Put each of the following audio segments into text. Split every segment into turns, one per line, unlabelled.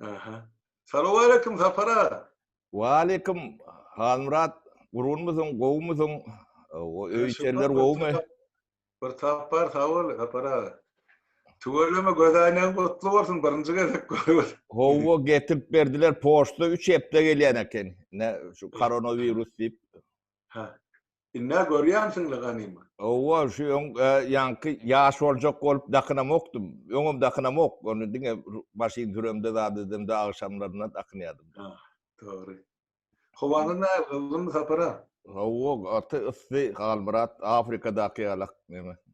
Aha. Salowaleýkim Sapar aga. Waleýkim
Halmyrat, gurunmysyň, gowumysyň? Öý içerler gowumy? Bir
tapar sag bol Sapar aga. Tüweleme göz aýnaň gutly bolsun birinji gezek görüp. Howwa getirip
berdiler poçta 3 hepde gelýän eken. Ne şu koronawirus diýip. Ha.
Indi-ä görýänsiň-le ganymy? Hawa, şu öň
ýaňky ýaş boljak bolup dakynamokdym. Öňem dakynamok. Ony diňe başym süremde zat edemde agşamlaryna dakynýardym. Dogry.
Howanyz nähili, gyzgynmy sapar-a? Hawa, gaty
yssy, Halmyrat, Afrikadaky ýalak neme.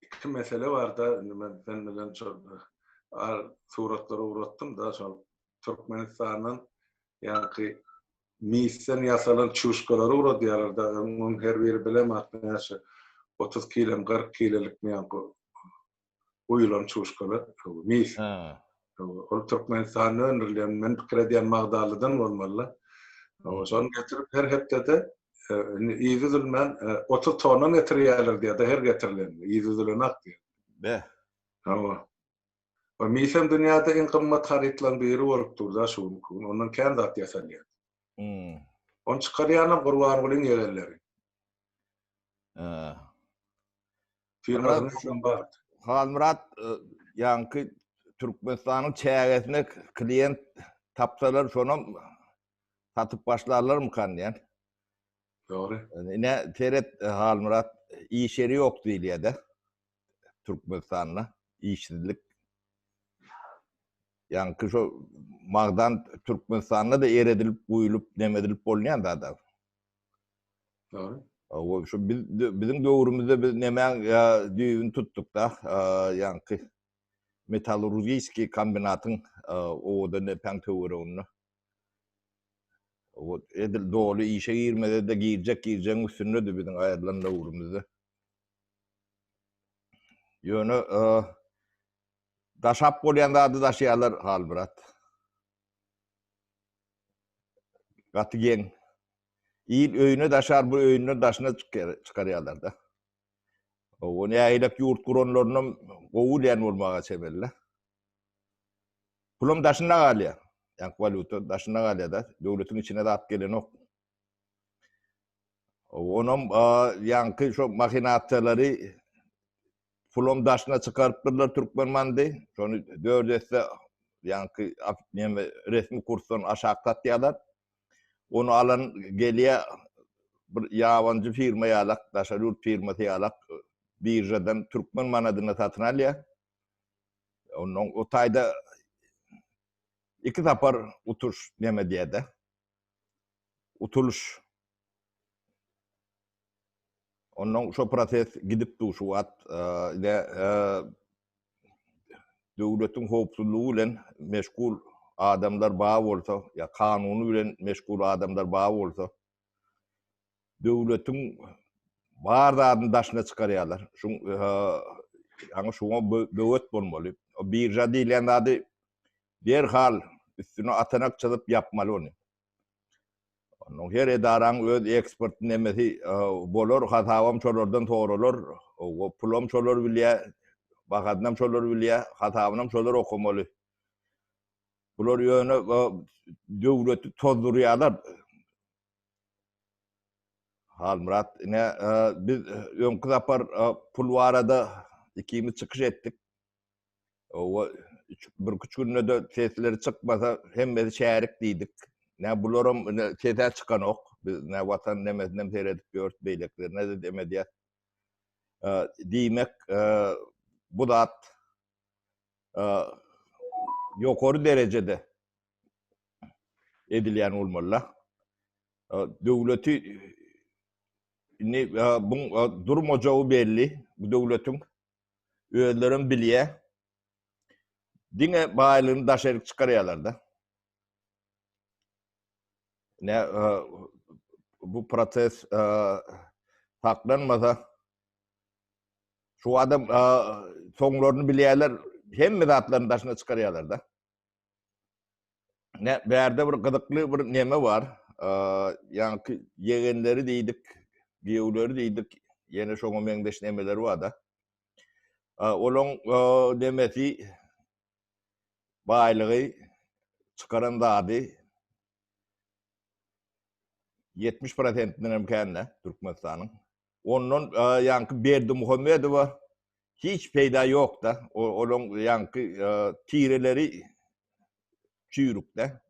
iki mesele barda indi men sen bilen şol ar suratlary ugratdym-da şol Türkmenistandan ýaňky misden ýasalan çuşkalary ugradýarlar-da onuň her biri bilem at näçe otuz kilem kyrk kilelikmi ýaňky guýulan çuşkalar mis. Ol Türkmenistanda öndürilýän, men pikir edýän magdalydan bolmaly-la. Şony getirip her hepdede indi yzy üzülmän otuz tonna getirýärler diýýär-de her getirilende, yzy üzülenak diýýär. Be.
Hawa.
We misem dünýäde iň gymmat harytlaryň biri bolup dur-da şu günki gün, ondan kän zat ýasalýar. Hum. Ony çykarýanam Gurbangulyň ýegenleri. Ää. firmasynyň üçem bar. Halmyrat
e, ýaňky Türkmenistanyň çägesine klient tapsalar şonam satyp başlarlarmykan diýen.
Dogry. Ine
seret e, Halmyrat iş ýeri ýok diýilýär-de. Türkmenistanda işsizlik. Ýaňky şu magdan Türkmenistanda da eredilip, guýlup, nemedilip bolýan zada.
Doğru. Ol şu
biz biziň döwrümizde biz nemäň düýbüni tutdukda, ýaňky metallurgiýskiý kombinatyň owada nepäň töwereginde. Ol edil doly işe girmede-de girjek girjegiň üstündedi biziň aýrylan döwrümizde. Ýöne daşap bolýan zady daşaýarlar Halmyrat. Gaty geň. Il öýüne daşar, bu öýünden daşyna çykarýarlar-da. Owo, nägilek ýurt guranlarynam gowy län bolmaga çemeli-le. Pulam daşynda galýar. Ýa, walýuta daşynda galýar-da. Döwletiň içine zat gelenok. Onam ýaňky şo mahinasiýalary pulum daşyna çykarypdyrlar türkmen bandy. Şony dört esse ýaňky näme resmi kursdan aşak satýarlar. Ony alan gelýä bir ýabanjy firma ýalak, daşary ýurt firmasy ýalak biržadan türkmen manadyna satyn alýa. Ondan o taýda iki sapar utuş näme edýädä. utulyş Ondan şo proses gidip dur şu wagt. Ine döwletiň howpsuzlygy bilen meşgul adamlar bar bolsa, ýa kanuny bilen meşgul adamlar bar bolsa, döwletiň bar zadyny daşyna çykarýarlar. Şuň ýa-ni şuňa böwet bolmaly. Birja diýlen zady Derhal üstüne atanak çyzyp ýapmaly ony. Ondan her edaraň öz eksport nemesi bolar, hasabam şolardan soralar, pulam şolar bilýä, bahasynam şolar bilýä, hasabynam şolar okamaly. Bular ýöne döwleti tozdurýarlar. Halmyrat, ine biz öňki sapar pul barada ikimiz çykyş etdik. Owa, birküç günde-de sesleri çykmasa, hemmesi şärik diýdik. Nä, bularam ine ses-ä çykanok. Biz nä Watan nemesinem seredip ýörüs, beýlekilerine-de dem edýäs. Diýmek, bu zat ýokary derejede edilýän bolmaly-da. Döwleti indi bu durmajagy belli bu döwletiň. Özlerem bilýä. Diňe baýlygyny daşaryk çykarýalarda. Ne e, bu protest e, saklanmasa şu adam e, soňlaryny bilýärler, hemme zatlaryny daşyna çykarýarlar da. Ne bärde bir gyzykly bir neme bar. Ýaňky ýegenleri diýdik, giýewleri diýdik, ýene şoňa meňzeş nemeler bar-da. Olaň nemesi baýlygy çykaran zady 70 prosentinden hem kän-dä Türkmenistanyň. Ondan ýaňky Berdimuhamedowa hiç peýda ýokda. Olaň ýaňky tireleri çüýrükde.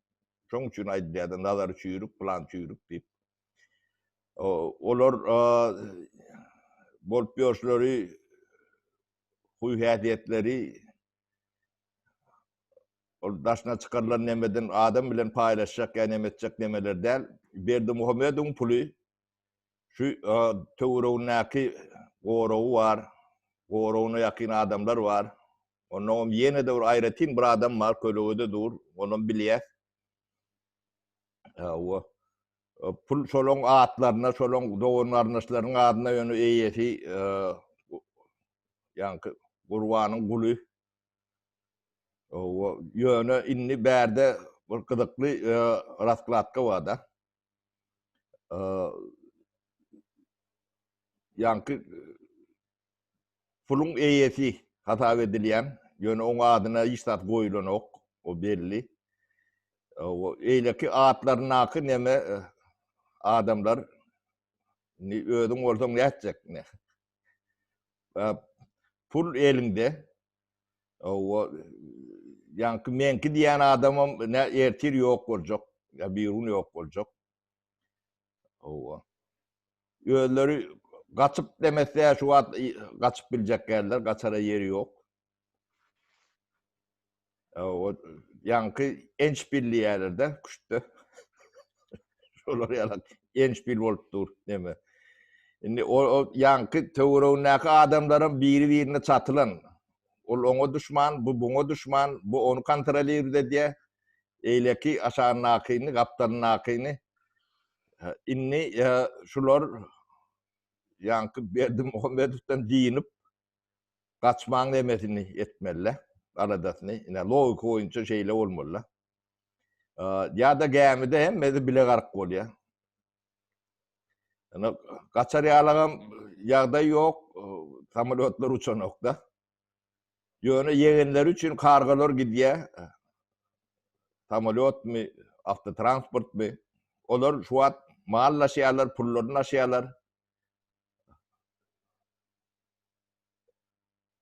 Şoň üçin aýdylýarda Nazar çüýrük, plan çüýrük diýip. Olar bolup ýörşleri huý-häsiýetleri ol daşyna çykarylan nemeden adam bilen paýlaşjak ýa neme etjek nemeler däl. Berdimuhamedowyň puly Şu töweregindäki goragy bar. Goragyna ýakyn adamlar bar. Onnoňam ýene-de bir aýratyn bir adam bar, kölegede dur, onam bilýär. Hawa. Pul şolaň atlaryna, şolaň dogan-garyndaşlarynyň adyna ýöne eýesi ýaňky Gurbanyň guly. Hawa, ýöne indi bärde bir gyzykly raskladka bar-da. ýaňky puluň eýesi hasap edilýän, ýöne oň adyna hiç zat goýulanok, o belli. Eýleki atlaryndaky neme adamlar indi özüň bolsaň nätjek ine. Pul eliňde, Owa, ýaňky meňki diýen adamam nä ertir ýok boljak, ýa birigün ýok boljak. Owa. Özleri gaçyp demese şu wagt gaçyp biljek geldiler, gaçara ýeri ýok. Owa, ýaňky enç bilýärler-de, küştde. Şolar ýaly endşpil bolup dur neme. Indi o, o ýaňky töweregindäki adamlaram biri-birine çatylan. Ol oňa duşman, bu buňa duşman, bu ony kontrolirowat edýär. Eýleki aşagyndakyny, gapdalyndakyny. Indi şular ýaňky Berdi Muhammedowdan dynyp, gaçmaň nemesini etmeliler, aladasyny. Ine, logika boýunça şeýle bolmalylar. Ýa-da gämide hemmesi bile gark bolýar. Ýöne gaçar ýalagam ýagdaý ýok, samolýotlar uçanokda. Ýöne ýegenleri üçin kargalar gidýär. Samolýotmy, awtotransportmy? Olar şu wagt mal daşaýarlar, pullaryny daşaýarlar.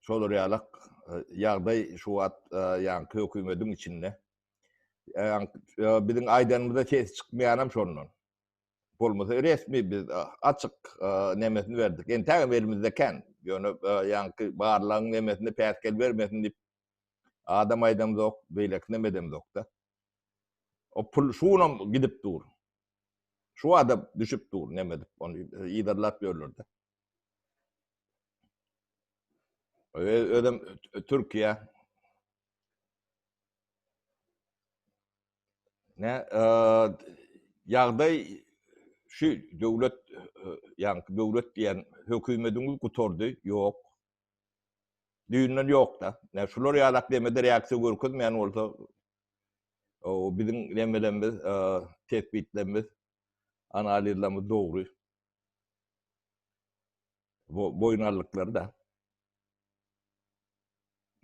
şolar ýaly ýagdaý şu wagt ýaňky hökümediň içinde. Biziň aýdanymyza ses çykmaýanam şondan. Bolmasa resmi biz açyk nemesini berdik. Entägem elimizde kän. Ýöne ýaňky barlagyň nemesini päsgel bermesin diýip adam aýdamzok, beýleki neme edemzok-da. O pul şunam gidip dur. Şu adam düşüp dur neme edip ony yzarlap ýörler-de. Özüm Türkiýe ne ýagdaý şu döwlet ýa-ni döwlet diýen hökümediňiz gutardy, ýok. Düýnden ýok-da. Ne şular ýalak demede reaksiýa görkezmeýän bolsa biziň nemelerimiz, tesbitlerimiz, analizlerimiz dogry Bu boýun aldyklary-da.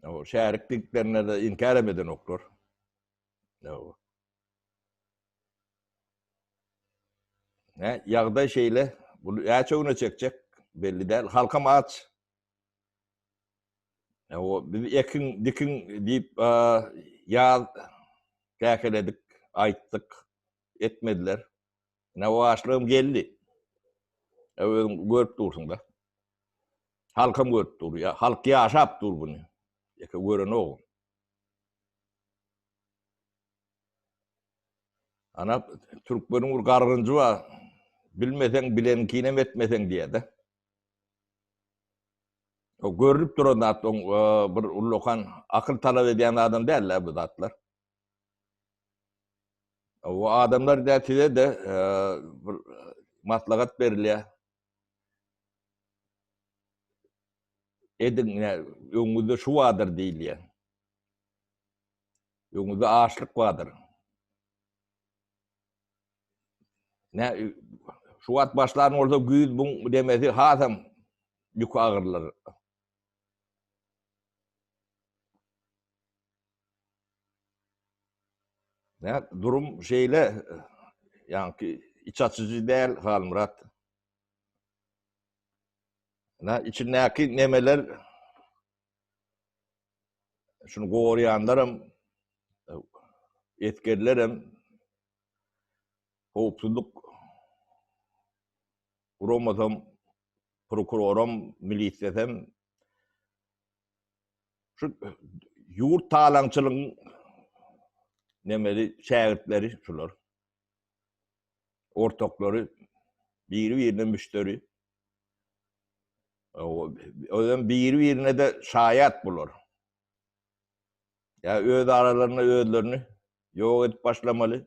O şärik diňklerine-de inkär hem edenoklar. Ýok. Ne, ýagdaý şeýle. Bu näçe güne çekjek belli däl. Halkam aç. Ne, o biz ekin, dikin diýip, ýaz käkeledik, aýtdyk, etmediler. Ine waşlygym geldi. E özüň görüp dursuň-da. Halkam görüp dur, ýa halk ýaşap dur buny. Ýeke görenogum. Ana türkmeniň bir gargynjy bar. Bilmeseň bileniňkini hem etmeseň diýýär-de. O görülip duran zat, oň bir ullakan akyl talap edýän adam däl-le bu zatlar. O adamlar da size de e, bir maslahat berilýär. Ediň, öňüňizde şu bardyr diýilýär. Öňüňizde açlyk bardyr. Ne şu wagt başlan bolsa güýz bu demesi hasam ýük agyrlar. Näme, durum şeýle, ýaňky iç açyjy däl, Halmyrat. Nä, içindäki nemeler, şuny gorýanlaram, esgerlerem, howpsuzlyk guramasam, prokuroram, milisiýasam, Şu e, ýurt talaňçylygyň nemeli şägirtleri şular. Ortaklary biri-birine müşteri. Özüm biri-birine de şaýat bular. Ya öz aralarynda özlerini ýok edip başlamaly.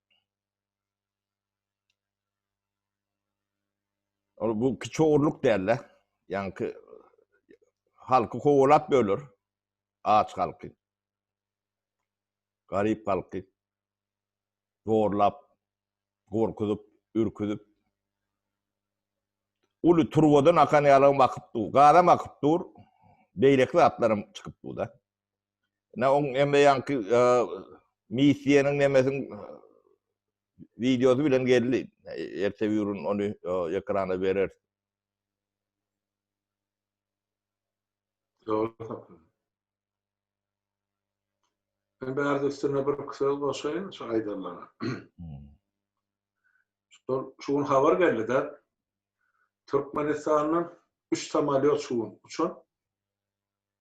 Ol bu kiçi ogurluk däl-de. Ýaňky halky kowalap böler. Aç halky. Garyp halky. Zorlap, gorkuzyp, ürküzip. Uly turbadan akan ýalam akyp dur. Gazam akyp dur. Beýleki zatlaram çykyp dur-da. Ne on emme yanki misiýanyň nemesiň wideosy bilen geldi. Erte ýurun ony ekrana berer. Dogry
tapyň. Ben bärde üstüne bir iki söz goşaýyn şu aýdanlara. Şu şu gün habar geldi-de Türkmenistandan 3 samolyot şu gün uçan.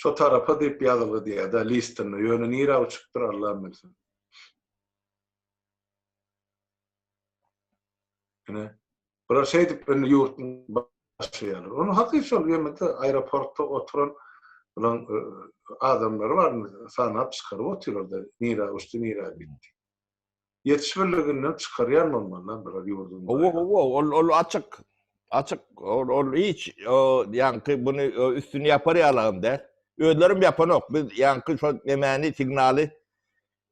Şo tarapa diýip ýazylgydy ýa-da listinde, ýöne nirä uçupdyr Allam bilsin. Ine, bular şeýdip indi ýurtny başlaýarlar. Ony hakyt şol ýermede aeroportda oturan bulaň adamlary bar, sanap çykaryp otyrlar-da, nirä uçdy, nirä gitdi. Ýetiş birliginden çykarýan bolmalylar bular ýurduň Hawa, baýlygyny. hawa, ol, ol
açyk. Açyk, ol, ol hiç, o, ýaňky buny o, üstüni ýapar ýalam däl. Özlerem ýapanok. Biz ýaňky şo nemäni, signaly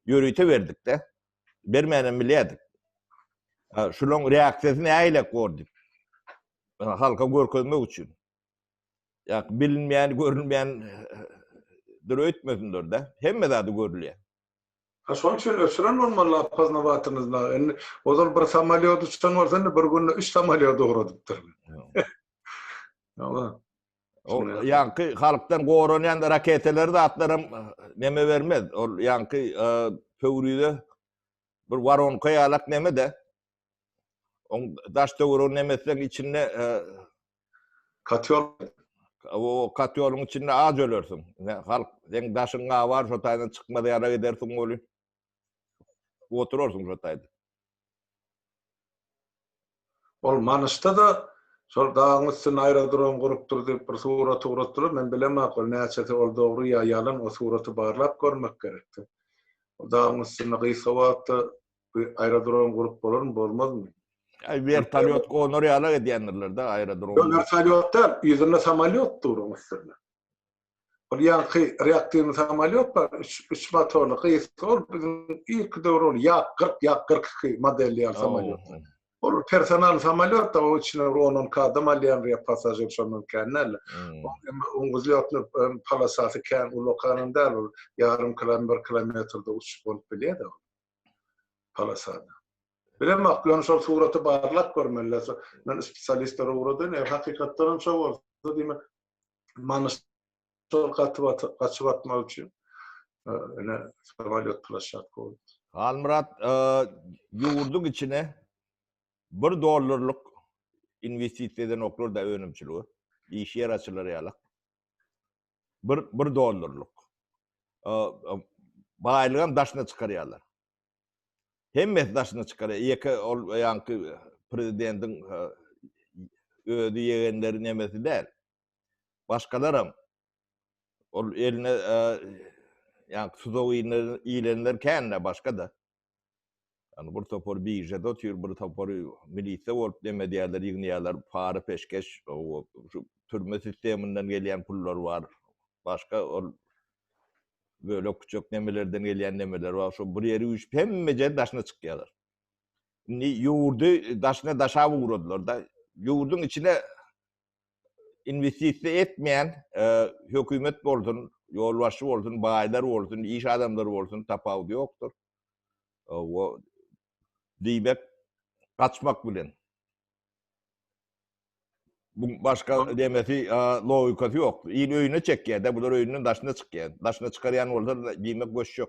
ýörite berdik-de. Bermänem bilýärdik. A, şulaň reaksiýasy nägilek bor diýip. A, halka görkezmek üçin. Ýa, bilinmeýän, görülmeýän dur öýtmesinler-de. Hemme zady görülýär. Ha şoň
üçin öçüren bolmaly Apazna batyryňyzda. Indi ozal bir samalýot uçan bolsa indi bir günde 3 samalýot ugradypdyr. Ýa. O
ýaňky halkdan goranýan raketalary zatlaram neme bermez. Ol ýaňky pöwrize bir waronka ýalak neme-de. Oň daş töweregi nemesleň içinde
Katýol
o katýoluň içinde az ölersiň. Halk seň daşyň gabar, şo taýdan çykmaz ýara gidersiň boluň. Oturarsyň şo taýda.
Ol Manyşda da şol dagyň üstünde aerodrom gurupdyr diýip bir surat ugratdylar. Men bilemok ol näçesi ol dogry ýa ýalan o suraty barlap görmek gerek. Dagyň üstünde gysga wagtda Bu aerodrom gurup bolarmy, bolmazmy? Ay vertolyot
gonar ýala edýändirler da aerodrom. Ýok, vertolyot däl, ýüzünde
samolyot dur onuň üstünde. Ol ýaňky reaktiwny samolyot bar, üç, üç motorly gysga ol biziň ilki döwür ol ýak 40, ýak 42 model ýaly samolyot. Ol personal samolyot da o içine bir 10-12 adam alýan ýa pasažir şondan kän däl. Oň güzlýotny palasasy kän ulakan däl ol ýarym kilometr, bir kilometrde uçup bolup bilýär-de. polasada. Bilemok, wagt bilen şol suraty barlap görmeli. Men spesialistlere ugradyn, eger hakykatdan hem şo bolsa, diýmek, manyş şol gaty batyp, gaçyp atmak üçin ine samolýot plashatka bolupdyr. Halmyrat,
ýurduň içine bir dollarlyk inwestisiýa edenoklar-da önümçilige, iş ýer açylar ýaly. Bir, bir dollarlyk. Baýlygam daşyna çykarýarlar. Hemmesi daşyna çykarýar. Ýeke ol ýaňky prezidentiň özi ýegenleri nemesi däl. Başgalaram ol eline ýaňky tuzagy ilenler kände başga-da. Ýani bir topar biržada otyr, bir topary milisde bolup nem edýärler, ýygnaýarlar, para peşgeş, şu türme sisteminden gelýän pullar bar, başga ol bölek küçek nemelerden gelýän nemeler bar, şu bir ýeri üýşüp hemme ýeri daşyna çykýarlar. Indi ýurdy daşyna daşap ugradylar-da, ýurduň içine investisiýa etmeýän e, hökümet bolsun, ýolbaşçy bolsun, baýlar bolsun, iş adamlary bolsun tapawudy ýokdur. E, o diýmek gaçmak bilen. Bu başga demesi e, logikasy ýok. Il öýüne çekýär-de, bular öýünden daşyna çykýar. Daşyna çykarýan bolsa diýmek göçjek.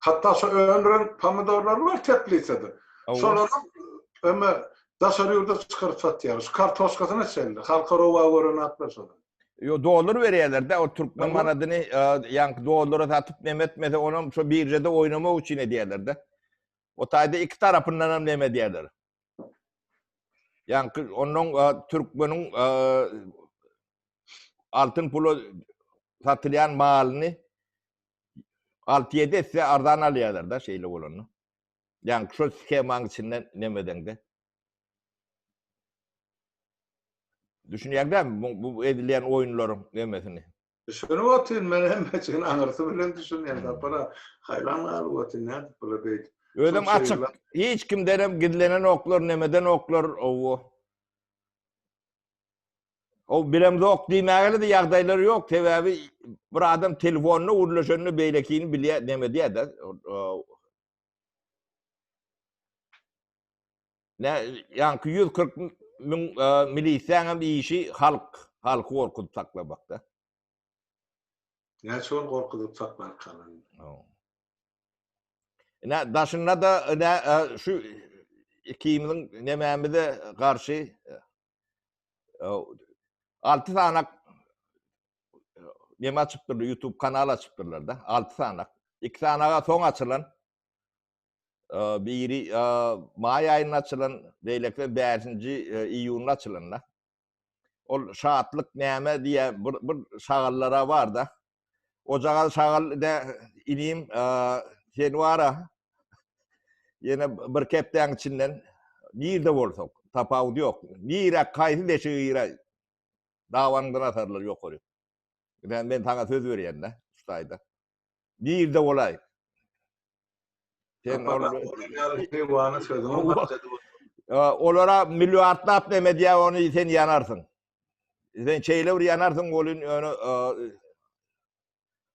Hatda şu öndüren pomidorlar bar teplisede. Şolara öme daşary ýurda çykaryp satýar. Şu kartoşkasyna çenli. Halka rowa gören atlar şolar. Yo dollar
berýärler-de, o türkmen manadyny ýaňky dollara satyp neme etmese, onam şu birjede oýnamak üçin edýärler-de. O taýda iki tarapyndan hem neme edýärler. Ýaňky onuň türkmeniň altyn pula satylýan malyny 6-7 esse arzan alýarlar da şeýle bolanda. Ýani şol skemanyň içinde nemedeňde. Düşünýäňdämi bu, bu edilýän oýunlaryň nemesini? Düşünip otyryn
men hem çyn aňyrsy bilen düşünýän sapara. Haýran galyp otyryn nädip bula beýdip. Özem açyk.
Hiç kimden hem gizlenenoklar, nemedenoklar. Owo. O bilemzok diýmäge-de ýagdaýlary ýok, sebäbi bir adam telefonyna gürleşende beýlekini bilýär, näme diýýär-de. Nä, ýaňky 140 müň milisiýaň hem işi halk, halky gorkuzyp saklamakda.
Näçe gün gorkuzyp saklarkan indi.
Haw. Ine daşynda-da ine şu ikimiziň nemämize garşy alty sanak neme açypdyrlar, YouTube kanal açypdyrlar-da, alty sanak. Iki sanaga soň açylan, biri may aýynda açylan, beýlekisi bäşinji iýunda açylan-da. Ol şatlyk näme diýe bir bir şagallara barda. Ojagal şagal de inim sen wara. Ýene bir kepdäň içinden nirde bolsak, tapawut ýok. Nirä kaýsy deşigi girä? Dawaňdan atarlar ýokary. Ýa men saňa söz berýän-de, şaýda. Nirde bolaý? Sen ol Heýwany sözüňi başlady. Olara milliardlap näme diýär, ony sen ýanarsyň. Sen şeýle bir ýanarsyň, bolun ýöne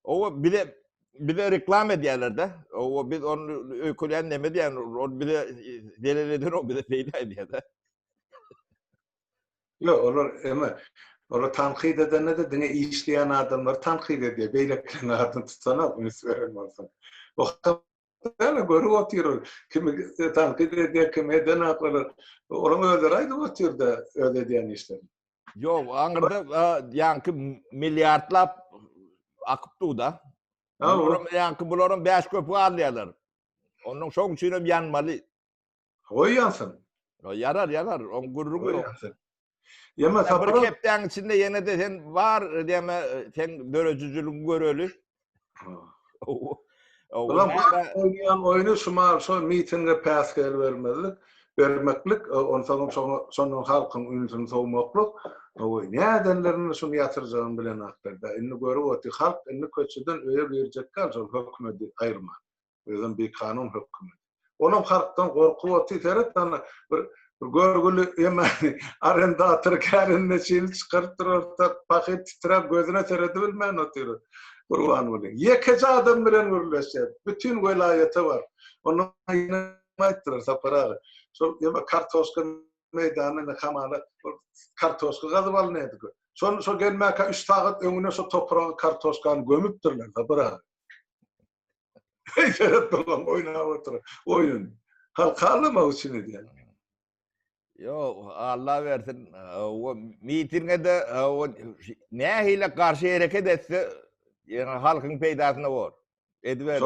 Owa bize bize reklama edýärler-de. Owa biz ony öýkelän näme diýen, ol bize zelel eden o bize peýda edýär-de.
Ýok, olar eme, olar tankyt edende-de diňe işleýän adamlary tankyt edýär, beýlekileriň adyny tutanok, üns beren bolsun. Ýöne görüp otyryn, kimi tankyt edýär, kimi edenok, olar, olaryň özleri aýdyp otyr-da öz edýän işlerini. Ýok, aňyrda
ýaňky milliardlap akyp dur-da. Bularam ýaňky, bularam bäş köpük alýarlar. Onnoň şoň üçinem ýanmaly. Goý
ýansyn. Ýarar, ýarar.
Oň gürrüňi Goý ýok. ýansyn. Ýeme,
Hatta bir Sapar aga. hepdäň
içinde ýene-de sen bar, diýme, seň döredijiligiňi göreli. Ha. Owo.
Owo. Bulam Näme? has oýnaýan oýny şumal şo mitinge päsgel bermezlik, bermeklik, o- onsoňam şoňa şondan halkyň ünsüni sowmaklyk. Owo, nädenlerine şuny ýatyrjagyny bilenoklar-da. Indi görüp otyr, halk indi köçeden öýe girjekkä şol hökümedi aýyrman. Özem bikanun hökümet. Olam halkdan gorkup otyr, seret ana bir görgüli eme arendator kärine çyny çykaryp durarda pahyr titrap gözüne seredi bilmän otyr. Gurban bolyň. Ýekeje adam bilen gürleşýär. Bütin welaýata bar. Onda aýtdylar Sapar aga. Şol ýa kartoşka meýdanyny hamala kartoşka gazyp alynýardy. Şol gelmäkä üç sagat öňüne şo topraga kartoşkany gömüpdirler Sapar aga. Seret babam oýnap otyr. Oýun. Halkalamak üçin edýän.
Ýok, Allah bersin. O mitingede o nähili garşy hereket etse, ýöne halkyň peýdasyna bor. Ediber.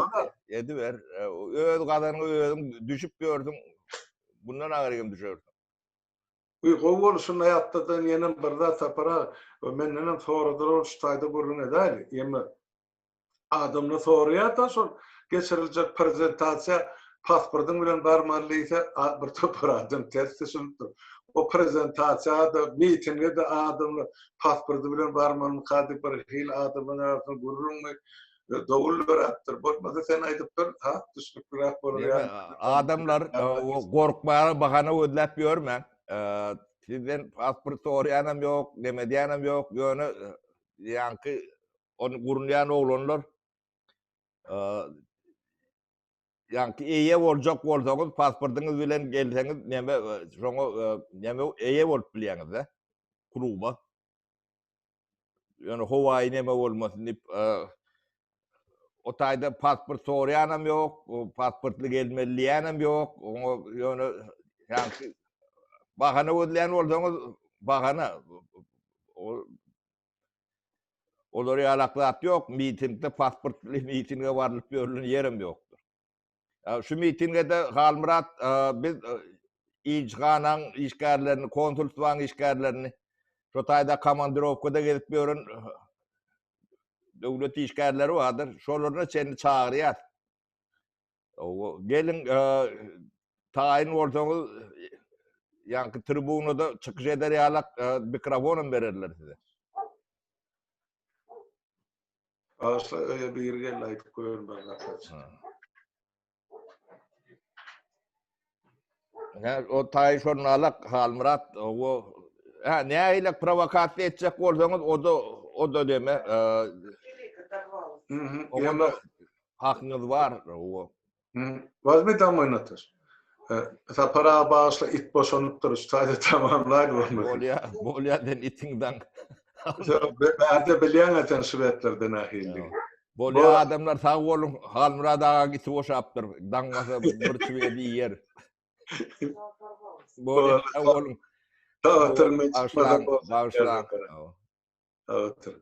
Ediber. Öz gazanyňy özüň düşüp ýörsüň. Bundan agyr hem düşersiň. Uý,
gowy bolşuna ýatladan ýene bir zat tapara. Menden hem soradylar şu taýda gürrüň edäýli. Ýeme Adamlar soraýar da şol geçiriljek prezentasiýa pasportyň bilen barmaly diýse bir topar adam ters düşünip dur. O prezentasiýa-da, mitinge-de adamlar pasporty bilen barmalymyka diýip bir hili adamlaryň arasynda gürrüňmi, dowul döräpdir. Bolmasa sen aýdyp dur, ha, düşnükliräk bolar ýaly. Adamlar
gorkmaga bahana gözläp ýörmäň. Sizden pasport soraýanam ýok, näme edýänem ýok, ýöne ýaňky Ony gurunýan oglanlar ýagny eýe boljak bolsaňyz, pasportyňyz bilen gelseňiz, näme şoňa näme eýe bolup bilýäňiz-de kluba. Ýöne howaýy näme bolmasyn diýip, o taýda pasport soraýanam ýok, pasportly gelmeli diýýänem ýok. Oňa ýöne ýagny bahana gözleýän bolsaňyz, bahana Olar ýalak zat ýok, mitingde pasportly mitinge barlyp ýörlen ýerem ýokdur. Şu mitingede Halmyrat biz ilçihanaň işgärlerini, konsulstwaň işgärlerini, şo taýda komandirowkada gezip ýören döwlet işgärleri bardyr, şolarna çenli çagyrýas. Gelin taýyn bolsaňyz ýaňky tribunada çykyş eder ýalak mikrofonam bererler size. Başla
öýe bir gel aýdyp görün bana.
Ne o tay şornalak Halmyrat o ha ne ile provokasiýa etjek bolsaňyz o da o da deme.
Onda hakyňyz
bar o. Wazmi
tam oýnatyr. Sapara başla it boşanypdyr, şaýda tamamlaýyn bolmaly. Bolýa, bolýa den
itiň daň.
Bärde bilýän eken şwedlerden ahilli. Bolýar adamlar
sag boluň. Halmyrat aga giti boşapdyr. Daňmasa bir çüwedi ýer. Bolýar sag boluň. Sag oturyň. Sag oturyň.